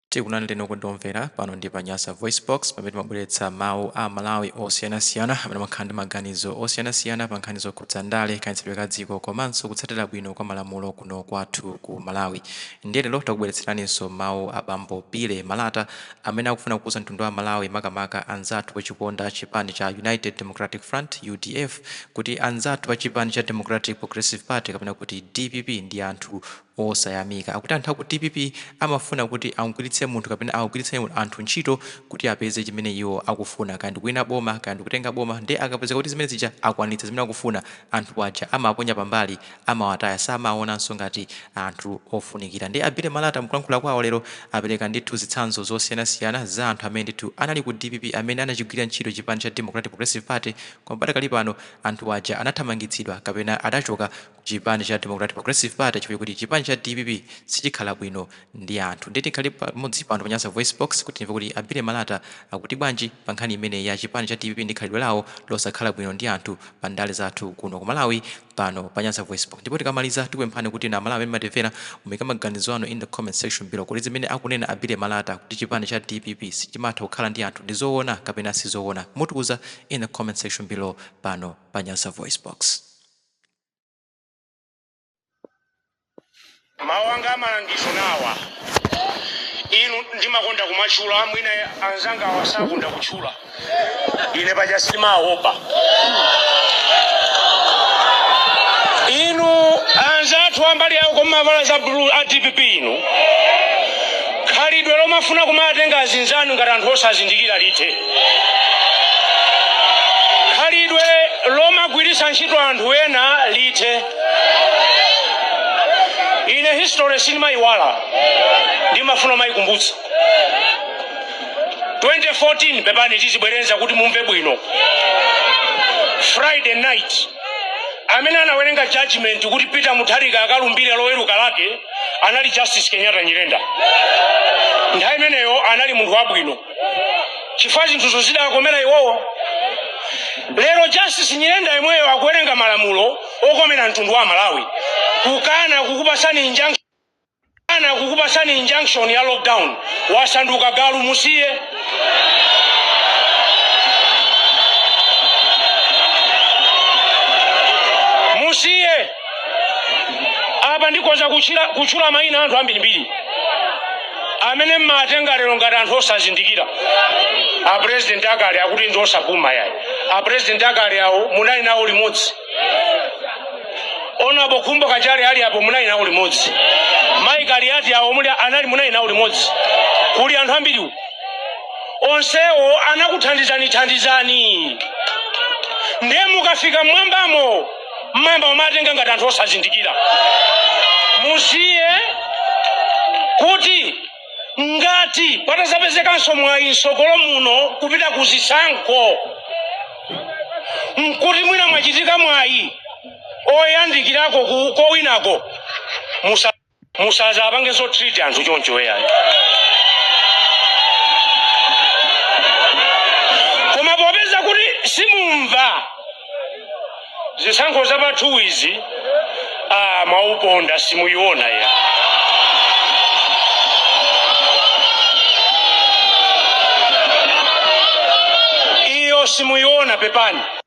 Tikulandireni okondedwa omvera pano ndi pa Nyasa VoiceBox pamene timabweretsa mawu a Amalawi osiyanasiyana amene amakhala ndi maganizo osiyanasiyana pa nkhani zokhudza ndale, kayendetsedwe ka dziko komanso kutsatira bwino kwa malamulo kuno kwathu ku Malawi. Ndiye lero takubweretseraninso mawu a bambo Billy Malata amene akufuna kuuza mtundu wa Amalawi makamaka anzathu ochikonda chipani cha United Democratic Front, udf, kuti anzathu a chipani cha Democratic Progressive Party kapena kuti dpp ndi anthu osayamika. Akuti anthu aku dpp amafuna kuti amugwiritse munthu kapena awagwiritse anthu ntchito kuti apeze chimene iwo akufuna, kaya ndikuwina boma, kaya ndikutenga boma, nde akapeza kuti zimene zija akwanitsa zimene akufuna, anthu aja amawaponya pambali, amawataya, samawawonanso ngati anthu ofunikira. Nde a Billy Malata mkulankhula kwawo lero apereka ndithu zitsanzo zosiyanasiyana za anthu amene ndithu anali ku dpp amene anachigwirira ntchito chipani cha Democratic Progressive Party koma padakali pano anthu aja anathamangitsidwa kapena adachoka chipani cha Democratic Progressive Party chifukwa choti chipani cha dpp sichikhala bwino ndi anthu ndiye tikhale pamodzi pano pa Nyasa VoiceBox kuti timve kuti a Billy Malata akuti bwanji pa nkhani imeneyi ya chipani cha dpp ndi khalidwe lawo losakhala bwino ndi anthu pa ndale zathu kuno ku Malawi pano pa Nyasa VoiceBox ndipo tikamaliza tikupemphani kuti inu a Malawi amene mumatimvera muike maganizo anu in the comment section below kodi zimene akunena a Billy Malata kuti chipani cha dpp sichimatha kukhala ndi anthu ndi zoona kapena si zoona mutiuza in the comment section below pano pa Nyasa VoiceBox. mawu anga a malangizo nawa inu ndimakonda kumatchula mwina anzanga awa sakonda kutchula ine paja simaopa inu anzathu ambali yawo kumavala za blue a dpp inu khalidwe lomafuna kumawatenga azinzanu ngati anthu osazindikira lithe khalidwe lomagwiritsa ntchito anthu ena lithe ine history sindimayiwala ndimafuna kumayikumbutsa 2014 pepani tizibwereza kuti mumve bwino friday night amene anawerenga judgment kuti peter mutharika akalumbire loweruka lake anali justice kenyatta nyirenda nthawi imeneyo anali munthu wabwino chifukwa zinthu zidawakomera iwowo lero justice nyirenda yemweyo akuwerenga malamulo okomera mtundu wa malawi kukana kukupasani injunction ya lockdown wasanduka galu musiye musiye apa ndikhoza kutchula mayina a anthu ambirimbiri amene mmatenga lero ngati anthu osazindikira a president akale akuti ndi osapuma yayi a president akale awo munali nawo limodzi honourable khumbo kachale ali apo munali nawo limodzi mayi kaliati awo muli anali munali nawo limodzi kuli anthu ambiriwo onsewo anakuthandizani thandizani ndiye mukafika mmwambamo mmayamba kumatenga ngati anthu osazindikira musiye kuti ngati patazapezekanso mwayi mtsogolo muno kupita ku zisankho nkuti mwina mwachitika mwayi oyandikirako ku- kowinako musa musazapange zo treat anthu choncho yayi koma popeza kuti simumva zisankho za pa 2 izi ah, mwauponda simuyiona ya iyo simuyiona pepani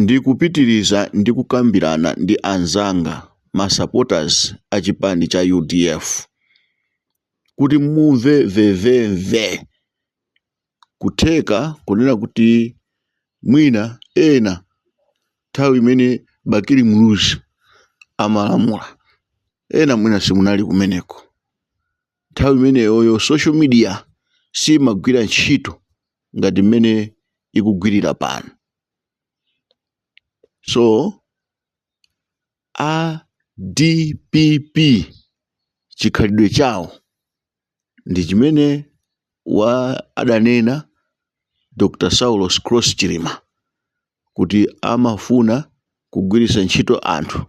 Ndikupitiriza ndi kukambirana ndi anzanga, ma supporters a chipani cha udf, kuti mumve mvemvemve kutheka kunena kuti mwina ena nthawi imene Bakili Muluzi amalamula, ena mwina simunali kumeneko. Nthawi imeneyoyo social media siimagwira ntchito ngati mmene ikugwirira pano. So a dpp chikhalidwe chawo ndi chimene wa adanena Dr. Saulos Klaus Chilima kuti amafuna kugwiritsa ntchito anthu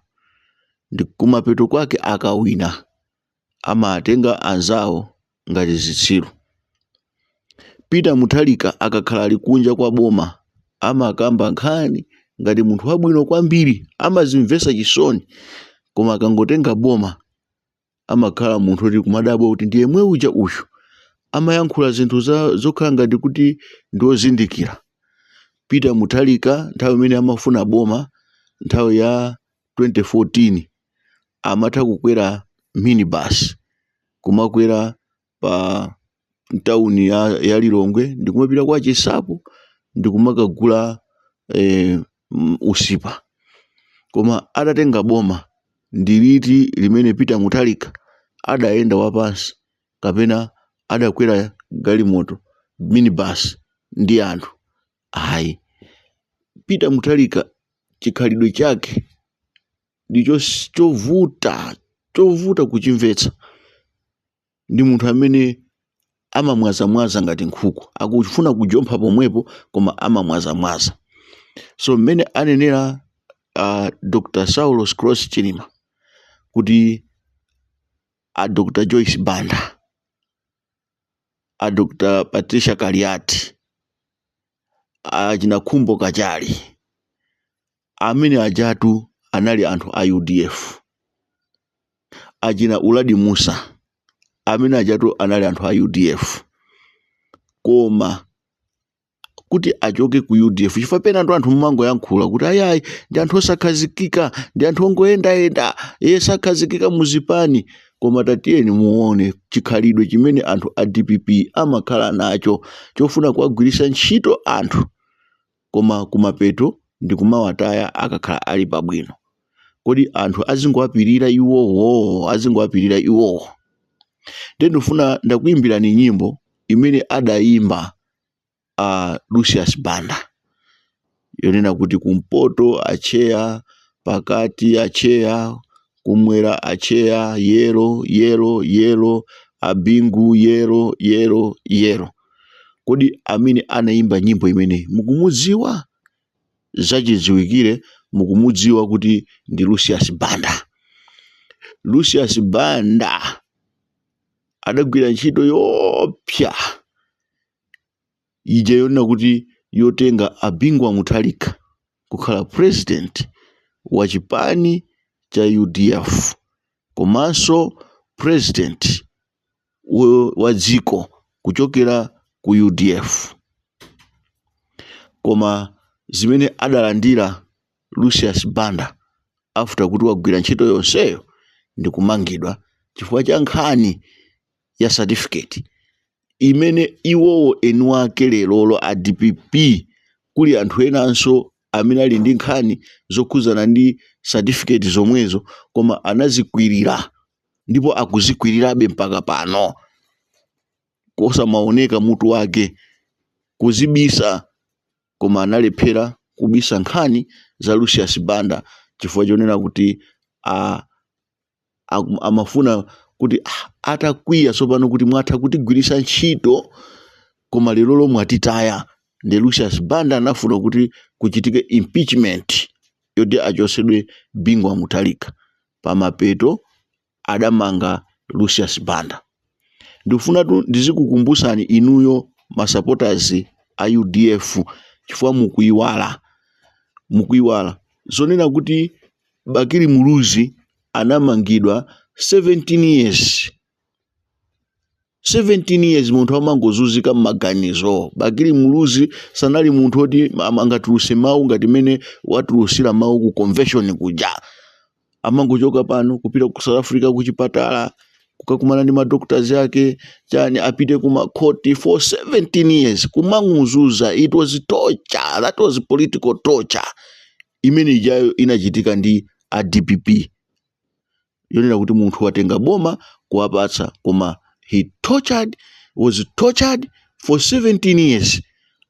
ndi kumapeto kwake akawina amatenga anzawo ngati zitsiru. Peter Mutharika akakhala ali kunja kwa boma amakamba nkhani ngati munthu wabwino kwambiri, amadzimvetsa chisoni. Koma akangotenga boma amakhala munthu oti kumadabwa kuti ndi yemwe uja uyu. Amayankhula zinthu za- zokhala ngati kuti ndi ozindikira. Peter Mutharika nthawi imene amafuna boma nthawi ya 2014 amatha kukwera minibus kumakwera pa mtauni ya, ya lilongwe ndikumapita kwa chinsapo ndikumakagula eh, m- usipa koma atatenga boma ndi liti limene peter mutharika adayenda wapansi kapena adakwera galimoto minibus ndi anthu Ayi, Peter Mutharika chikhalidwe chake ndicho chovuta chovuta kuchimvetsa ndi munthu amene amamwazamwaza ngati nkhuku akufuna kujompha pomwepo koma amamwazamwaza so mmene anenera uh, dr saulos klaus chilima kuti a dr joyce banda a dr patricia kaliati achina khumbo kachali amene ajatu anali anthu a udf achina uladi mussa amene ajatu anali anthu a udf koma kuti achoke ku udf chifukwa penatu anthu mumangoyankhula kuti ayayi ndi anthu osakhazikika ndi anthu ongoyendayenda iwo sakhazikika muzipani koma tatiyeni muone chikhalidwe chimene anthu a dpp amakhala nacho chofuna kuwagwiritsa ntchito anthu koma kumapeto ndi kumawataya akakhala ali pabwino kodi anthu azingowapirira iwowo azingowapirira iwowo nde ndifuna ndakuyimbirani nyimbo imene adayimba a Lucius Banda yonena kuti kumpoto atcheya pakati atcheya kumwera atcheya yellow yellow yellow a Bingu yellow yellow yellow kodi amene anayimba nyimbo imeneyi mukumudziwa zachidziwikire mukumudziwa kuti ndi Lucius Banda Lucius Banda adagwira ntchito yoopsa ija yonena kuti yotenga a Bingu wa Mutharika kukhala president wa chipani cha udf komanso president wa dziko kuchokera ku udf koma zimene adalandira Lucius Banda after kuti wagwira ntchito yonseyo ndikumangidwa chifukwa cha nkhani ya certificate imene iwowo eni wake lerolo a dpp kuli anthu enanso amene ali ndi nkhani zokhudzana ndi certificate zomwezo koma anazikwirira ndipo akuzikwirirabe mpaka pano. kosamaoneka mutu wake, kuzibisa koma analephera kubisa nkhani za Lucius Banda chifukwa chonena kuti a, a, amafuna kuti ah, atakwiya tsopano kuti mwatha kutigwiritsa ntchito koma lerolo mwatitaya nde Lucius Banda anafuna kuti kuchitike impeachment yoti achotsedwe Bingu wa Mutharika pamapeto adamanga Lucius Banda. Ndikufunatu ndizikukumbusani inuyo ma supporters a udf chifukwa mukuiwala mukuiwala zonena kuti Bakili Muluzi anamangidwa 17 years 17 years munthu amangozunzika mmaganizo bakili muluzi sanali munthu oti am- angatuluse mawu ngati mene watulusira mawu ku convention kuja amangochoka pano kupita ku south africa kuchipatala kukakumana ndi madoctors ake chani apite kumakhoti for 17 years kumanguzuza it was torture that was political torture imene ijayo inachitika ndi a dpp yonena kuti munthu watenga boma kuwapatsa koma he tortured, was tortured for 17 years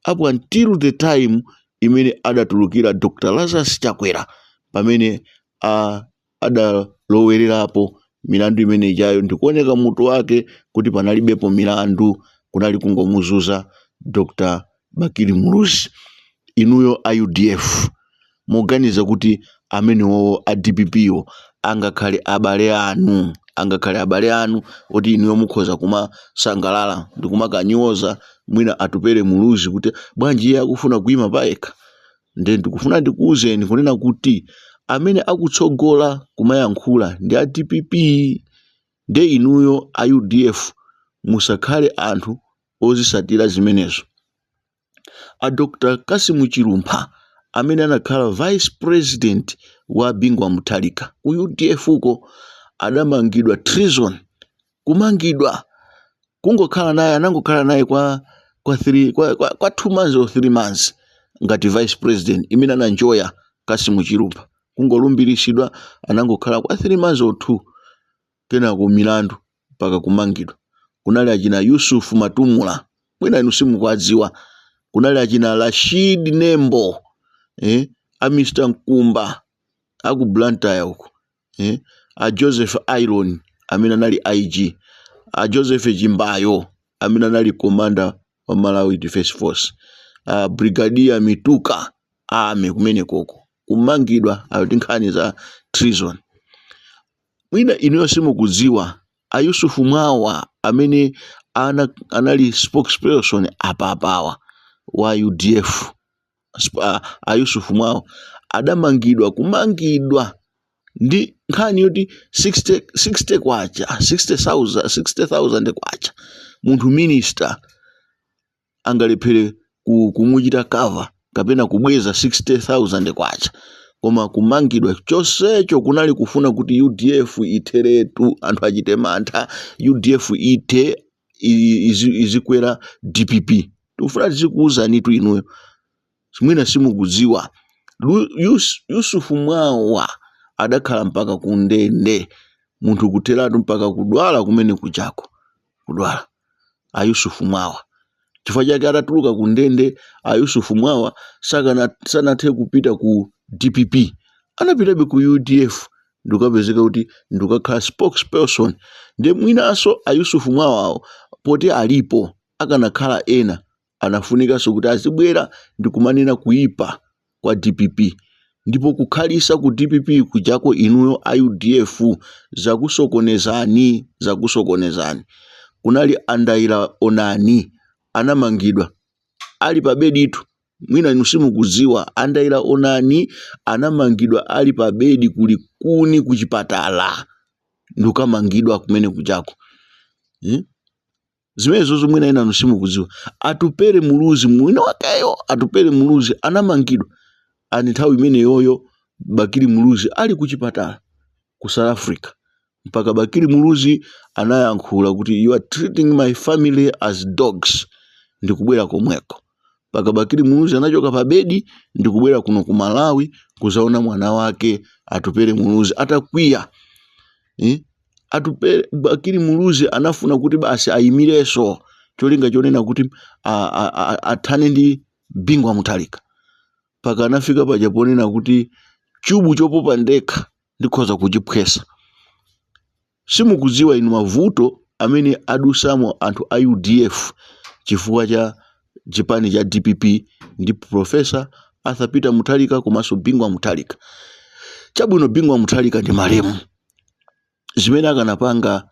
up until the time imene adatulukira Dr. Lazarus Chakwera pamene a adalowererapo milandu imene ijayo ndikuoneka mutu wake kuti panalibepo milandu kunali kungomuzuza Dr. Bakili Muluzi, inuyo a udf muganiza kuti amenewowo a dpp wo angakhale abale anu, angakhale abale anu oti inuyo mukhoza kumasangalala ndikumakanyoza mwina Atupele Muluzi kuti bwanji iye akufuna kuima payekha? Nde ndikufuna ndikuuzeni kunena kuti amene akutsogola kumayankhula ndi a dpp, nde inuyo a udf musakhale anthu ozisatira zimenezo. A Dr Kasimu Chilumpha amene anakhala vice president wa Bingu wa Mutharika ku udf uko adamangidwa treason kumangidwa kungokhala naye anangokhala naye kwa kwa 3 kwa, kwa, kwa 2 months or 3 months ngati vice president imene anaenjoya Kasimu Chilumpha kungolumbiritsidwa anangokhala kwa 3 months or 2 kenako milandu mpaka kumangidwa. Kunali achina Yusuf Matumula, mwina inu simukuwadziwa. Kunali achina Rashid Nembo, eh, a Mr. Nkumba a ku Blantyre uko, eh, a Joseph Aironi amene anali IG, a Joseph Chimbayo amene anali commander wa Malawi Defence Force, a Brigadier Mituka ame kumenekoko kumangidwa ati nkhani za treason. Mwina inuyo simukudziwa a Yusuf Mwawa amene ana, anali spokesperson apapawa wa UDF Sp- a, a Yusuf Mwawa adamangidwa kumangidwa ndi nkhani yoti 60 60 kwacha 60,000 60,000 kwacha munthu minister angalephere kumuchita cover kapena kubweza 60000 kwacha koma kumangidwa chonsecho kunali kufuna kuti udf itheretu anthu achite mantha udf ithe izikwera dpp tikufuna tizikuwuzanitu inuyo mwina simukudziwa yusufu mwawa adakhala mpaka kundende munthu kutheratu mpaka kudwala kumene kujako kudwala a yusufu mwawa chifukwa chake atatuluka ku ndende a yusufu mwawa sanathe kupita ku dpp anapitabe ku udf ndikapezeka kuti ndikakhala spokesperson ndiye mwinanso a yusufu mwawawo poti alipo akanakhala ena anafunikanso kuti azibwera ndikumanena kuipa kwa dpp ndipo kukhalisa ku dpp kujako inuyo a udf zakusokonezani zakusokonezani kunali andaila onani anamangidwa ali pabeditu mwina inu simukudziwa andaila onani anamangidwa ali pabedi kuli kuni kuchipatala ndikukamangidwa kumene kujako hmm? zimenezozo mwina enanu simukudziwa atupere muluzi mwini wakeyo atupere muluzi anamangidwa ani nthawi imeneyoyo bakili muluzi ali kuchipatala ku south africa mpaka bakili muluzi anayankhula kuti you are treating my family as dogs ndikubwera komweko mpaka bakili muluzi anachoka pa bedi ndikubwera kuno ku malawi kuzaona mwana wake atupere muluzi atakwiya eh? atupere bakili muluzi anafuna kuti basi ayimireso cholinga chonena kuti a- a- a- athane ndi bingu wa mutharika mpaka anafika paja ponena kuti chubu chopopa ndekha ndikhoza kuchiphwesa Simukudziwa inu mavuto amene adusamo anthu a udf chifukwa cha chipani cha dpp ndi Prof. Arthur Peter Mutharika komanso Bingu wa Mutharika. Chabwino Bingu wa Mutharika ndi malemu. Zimene akanapanga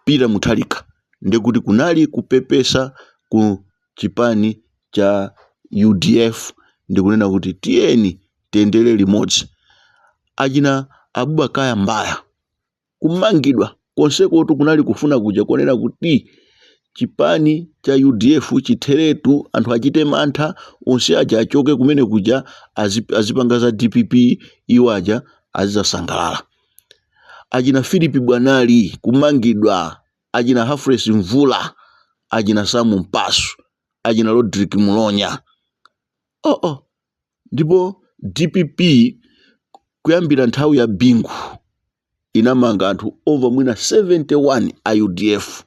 Peter Mutharika ndekuti kunali kupepesa ku chipani cha udf ndikunena kuti tiyeni tiyendere limodzi. Achina Abubakar Mbaya Kumangidwa konsekotu kunali kufuna kuja konena kuti chipani cha udf chitheretu, anthu achite mantha, onse aja achoke kumene kuja azi- azipanga za dpp iwo aja azizasangalala achina philip bwanali kumangidwa achina humphrey mvula achina samu mpasu achina rodrick mulonya oh oh ndipo dpp kuyambira nthawi ya bingu inamanga anthu over mwina 71 a udf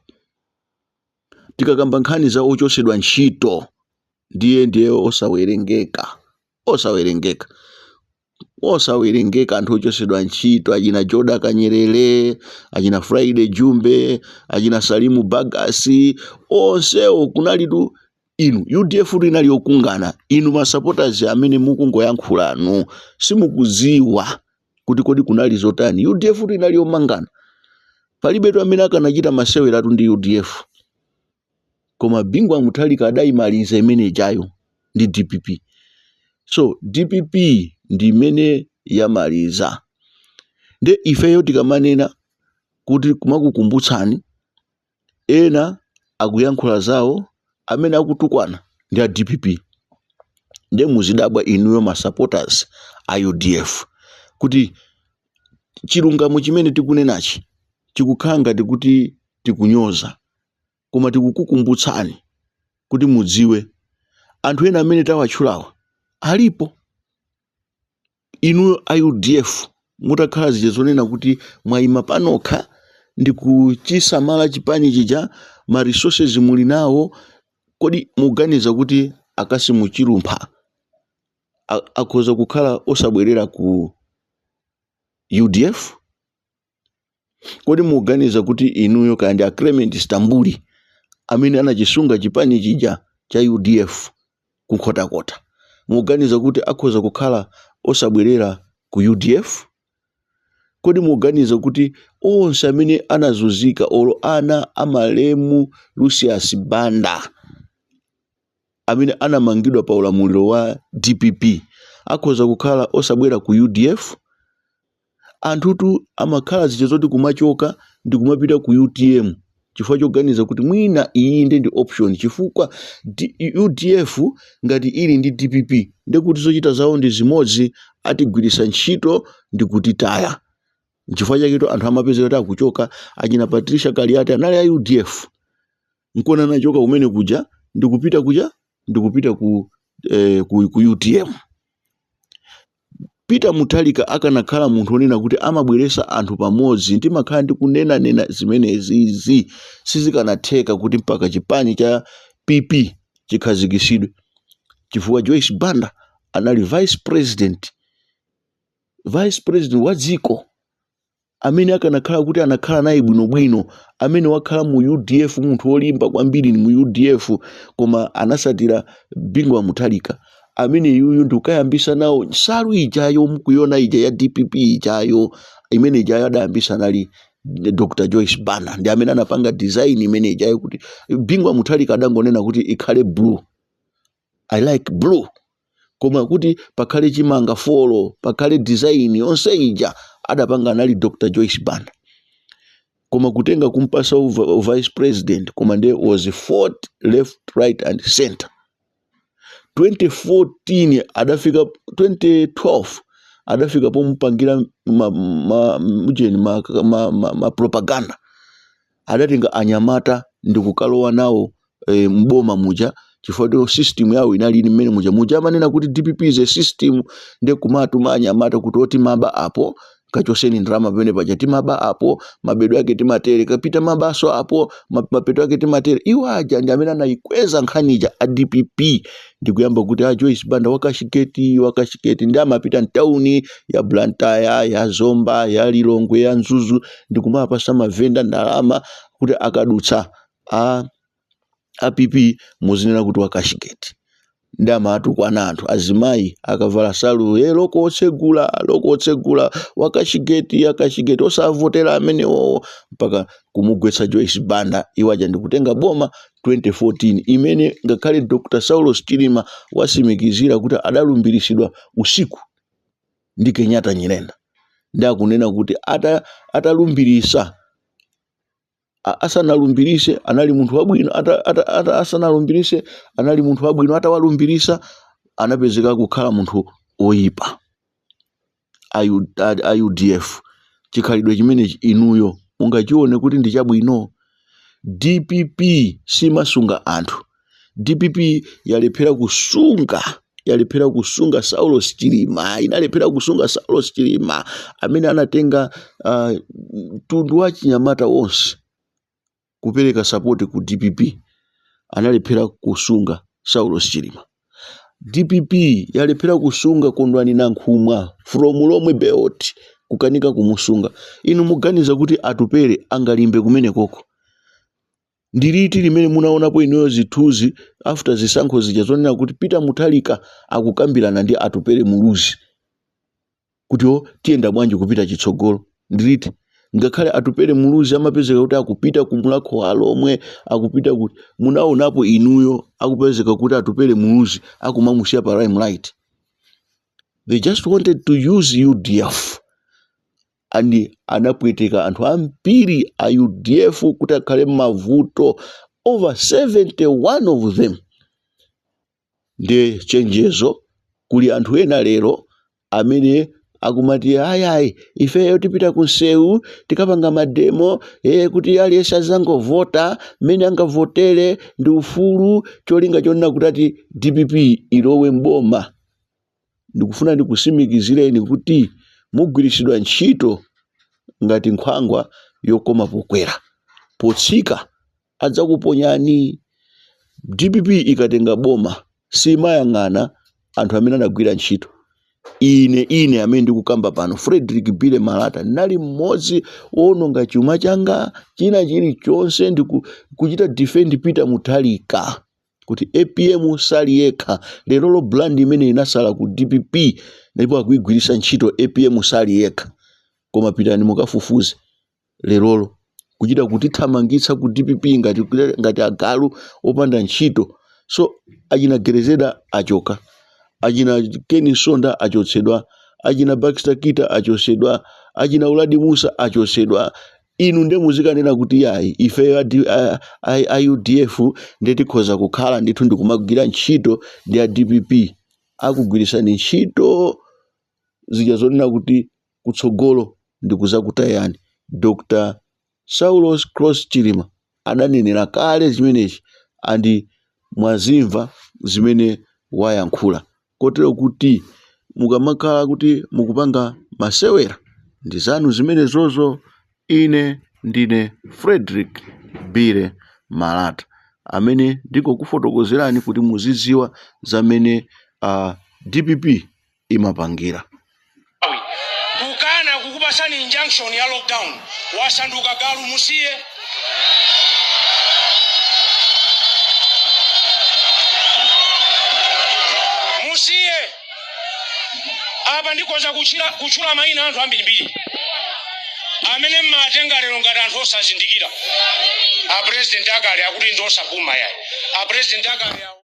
tikakamba nkhani za ochosedwa ntchito ndiye ndiye osawerengeka osawerengeka osawerengeka anthu ochosedwa ntchito achina joda kanyerere achina friday jumbe achina salimu bagasi onsewo kunalitu inu udf tu inali yokungana inu masupporters amene mukungoyankhulanu simukuziwa kuti kodi kunali zotani udf tu inali yomangana palibetu amene akanachita maseweratu ndi udf koma bingu wa muthalika adayimaliza imene ijayo ndi dpp so dpp ndi imene yamaliza nde ifeyo tikamanena kuti kumakukumbutsani ena akuyankhula zawo amene akutukwana ndi a dpp nde muzidabwa inuyo ma supporters a udf kuti chilungamo chimene tikunenachi chikukhala ngati kuti tikunyoza koma tikukukumbutsani kuti mudziwe anthu ena amene tawatchulawa alipo. Inuyo a udf mutakhala zija zonena kuti mwayima panokha ndi kuchisamala chipani chija ma resources muli nawo, kodi muganiza kuti a Kasimu Chilumpha a- akhoza kukhala osabwerera ku udf? kodi muganiza kuti inuyo kaya ndi a clement stambuli amene anachisunga chipani chija cha udf ku nkhotakota muganiza kuti akhoza kukhala osabwerera ku udf kodi muganiza kuti onse amene anazunzika olo ana amalemu lucius banda amene anamangidwa pa ulamuliro wa dpp akhoza kukhala osabwera ku udf anthutu amakhala zija zoti kumachoka ndi kumapita ku utm chifukwa choganiza kuti mwina iyi nde ndi option chifukwa D- udf ngati ili ndi dpp ndekuti zochita zawo ndi zimodzi atigwirisa ntchito ndi kutitaya chifukwa chaketo anthu amapezeka kuti akuchoka achina patricia kaliati anali a udf nkona anachoka kumene kuja ndikupita kuja ndikupita ku, eh, ku, ku utm peter muthalika akanakhala munthu onena kuti amabweresa anthu pamodzi ndimakhala ndikunenanena zimenezizi sizikanatheka kuti mpaka chipani cha pp chikhazikisidwe chifukwa joyce banda anali vice president vice president wa dziko amene akanakhala kuti anakhala naye bwinobwino amene wakhala mu udf munthu wolimba kwambiri mu udf koma anasatira bingu wa muthalika amene yuyu ndikukayambisa nawo nsalu ijayo mukuyona ija ya dpp ijayo imene ijayo adayambisa anali dr joyce banda ndi amene anapanga design imene ijayo kuti bingu wa muthalika adangonena kuti ikhale blue i like blue koma kuti pakhale chimanga folo pakhale design yonse ija adapanga anali dr joyce banda koma kutenga kumpasa uva, uva vice president koma nde she was fought left right and center 2014 adafika 2012 adafika pomupangira ma, ma, mjeni ma, ma, ma, ma propaganda adatenga anyamata ndikukalowa nawo eh, mboma muja chifukwa chitho system yawo inali ili mmene muja muja amanena kuti dpp is a system nde kumatuma anyamata kuti oti timaba apo kachoseni ndalama pamene paja timaba apo mabedwe ake timatere kapita timabaso apo ma- mapeto ake timatere iwo aja ndi amene anayikweza nkhani ija a dpp ndikuyamba kuti a joyce banda wakashigeti wakashigeti ndi amapita mtawuni ya blantaya ya zomba ya lilongwe ya mzuzu ndikumapasa mavenda ndalama kuti akadutsa a pp muzinena kuti wakashigeti ndi amatukwana anthu azimayi akavala nsalu ee loko otsegula loko otsegula wakashigeti akashigeti osavotera amenewowo mpaka kumugwetsa joyce banda iwo aja ndikutenga boma 2014 imene ngakhale dr saulos chilima wasimikizira kuti adalumbiritsidwa usiku ndi kenyatta nyirenda ndi akunena kuti ata, atalumbirisa a- asanalumbirise anali munthu wabwino ata, ata, ata, asanalumbirise anali munthu wabwino atawalumbirisa anapezeka kukhala munthu oyipa a U, a, a udf chikhalidwe chimenechi inuyo mungachione kuti ndi chabwino dpp simasunga anthu dpp yalephera kusunga yalephera kusunga saulos chilima inalephera kusunga saulos chilima amene anatenga ah, mtundu wa chinyamata wonse kupereka support ku dpp analephera kusunga Saulos Chilima. Dpp yalephera kusunga Kondwani Nankhumwa from Lomwe Belt kukanika kumusunga. Inu muganiza kuti Atupele angalimbe kumene koko? Ndiliti limene munaonapo inuyo zithuzi after zisankho zija zoonesa kuti Peter Mutharika akukambirana ndi Atupele Muluzi? kuti iwo tiyenda bwanji kupita chitsogolo ndi liti ngakhale atupele muluzi amapezeka kuti akupita ku mulhako wa alhomwe akupita kuti munaonapo inuyo akupezeka kuti atupele muluzi akumamusiya pa limelight they just wanted to use udf and anapweteketsa anthu ambiri a udf kuti akhale m'mavuto over 71 of them Ndiye chenjezo kwa anthu ena lero amene akumati ayi ayi ifeyo tipita kumsewu tikapanga mademo ee kuti aliyense azangovota mmene angavotere ndi ufulu cholinga chonena kuti ati dpp ilowe m'boma ndikufuna ndikusimikizireni kuti mugwiritsidwa ntchito ngati nkhwangwa yokoma pokwera potsika adzakuponyani. Dpp ikatenga boma simayang'ana anthu amene anagwira ntchito. Ine ine amene ndikukamba pano Fredrick Billy Malata ndinali mmodzi woononga chuma changa china chilichonse ndi ku- kuchita defend Peter Mutharika kuti APM sali yekha lerolo brand imene inasala ku DPP ndipo akuigwiritsa ntchito APM sali yekha koma pitani mukafufuze lerolo kuchita kutithamangitsa ku dpp ngati, ngati agalu opanda ntchito so achina grezelder achoka achina ken msonda achotsedwa achina baxter kita achotsedwa achina uladi mussa achotsedwa inu nde muzikanena kuti yayi ifeyo a, D- a, a, a udf nde tikhoza kukhala ndithu ndikumagwira ntchito ndi a dpp akugwiritsani ntchito cholinga chonena kuti kutsogolo ndikuzakutayani Dr saulos Klaus Chilima adanenera kale chimenechi and mwazimva zimene wayankhula kotero kuti mukamakhala kuti mukupanga masewera ndizanu zimenezozo ine ndine Fredrick Billy Malata amene ndingokufotokozerani kuti muzidziwa za mmene a dpp imapangira kukana kukupatsani injunction ya lockdown wasanduka galu musiye musiye apa ndikhoza kuchira- kutchula mayina anthu ambirimbiri amene mmatenga lero ngati anthu osazindikira apresident akale akuti ndi opuma yayi apresident akale awo